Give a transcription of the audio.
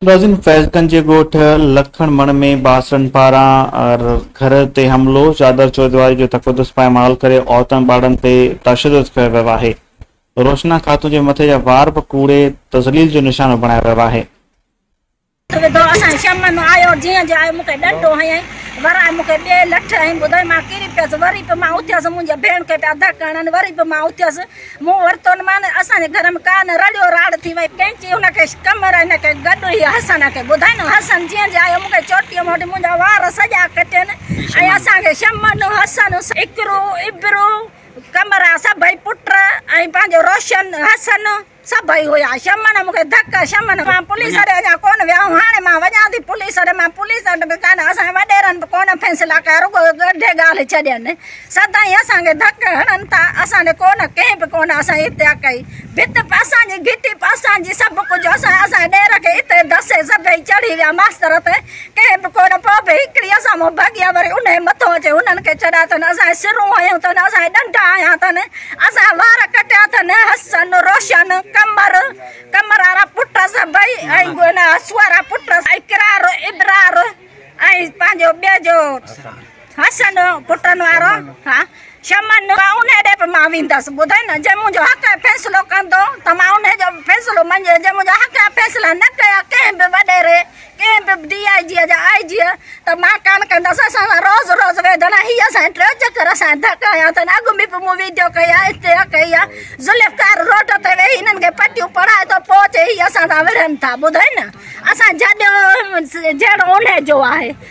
ملازم فيض گنج جي ڳوٺ لکڻ مڻ ۾ باسرن پاران گهر تي حملو، چادر چوڌواري جو تقدس پائمال ڪري عورتن ٻارڙن تي تشدد ڪيو ويو آهي، روشنا خاتون جي مٿي جا وار به ڪوڙي تذليل جو نشانو بڻايو ويو آهي. وڌو اسان جي شمع مان آيو جيئن جو آيو مون کي ڏنڊو هنيائين ورائي مون کي ٻي لٺ هنئي ٻڌائين مان ڪري پيس وري به مان اٿيس منهنجي ڀيڻ کي پيا ڌڪ هڻن وري به مان اٿيس مون ورتو مان اسان جي گهر ۾ ڪا نه رڙيو راڙ ٿي وئي ڪينچي هن کي ڪمر هن کي گڏ هي حسن کي ٻڌائين حسن جيئن جو آيو مون کي چوٽيء مان وٺي منهنجا وار سڄا ڪٽين ۽ اسان کي شمع حسن اقرو ابرو قمرا سڀئي پٽ ۽ پنهنجو روشن حسن سڀئي هيا شمن مون کي ڌڪ شمن مان پوليس اڏي اڃا ڪونه ويا آئون هاڻي مان وڃان ٿي پوليس اڏي مان پوليس اڏي به ڪانه اسان جي وڏيرن به ڪونه فيصلا ڪيا رڳو ڳڙهي ڳالهه ڇڏين سدائين اسان کي ڌڪ هڻن ٿا اسان ڏي ڪونه ڪنهن به ڪونه اسان جي اتيا ڪئي ڀت به اسان جي گهٽي به اسان جي سڀ ڪجهه اسان اسان جي ڏير کي اتي دسي سڀئي چڙهي ويا ماستر تي ڪنهن به ڪونه پوء به هڪڙي اسان مون ڀڳي آ وري انهي مٿو اچي هنن کي چڙهيا اٿن اسان سرون هنيون اٿن اسان ڏنڊا هنيا اٿن اسان وار ڪٽيا اٿن حسن روشن قمر قمر وارا پٽ سڀئي ۽ سوئرا پٽ اقرار ابرار ۽ پنهنجو ٻئي جو حسن پٽن وارو ها شمن ان ڏي به مان ويندس ٻڌاء نه جي منهنجو حق ۽ فيصلو ڪندو ته مان ان جو فيصلو منجي جي منهنجا حق ۽ فيصلا نه ڪيا ڪنهن به وڏيري ڪنهن به ڊي آء جي جا آء جي ته مان ڪان ڪندس اسان روز روز ويدنا هي اسان ٽيو چڪر اسان ڌڪ آيا ته اڳ ۾ به مون ويڊيو ڪئي آ اتي ڪئي آ ذوالفقار روڊ تي ويهي هنن کي پٽيون پڙهائي ٿو پوء چي هي اسان سان وڙهن ٿا ٻڌاء نه اسان جڏيو جهڙو ان جو آهي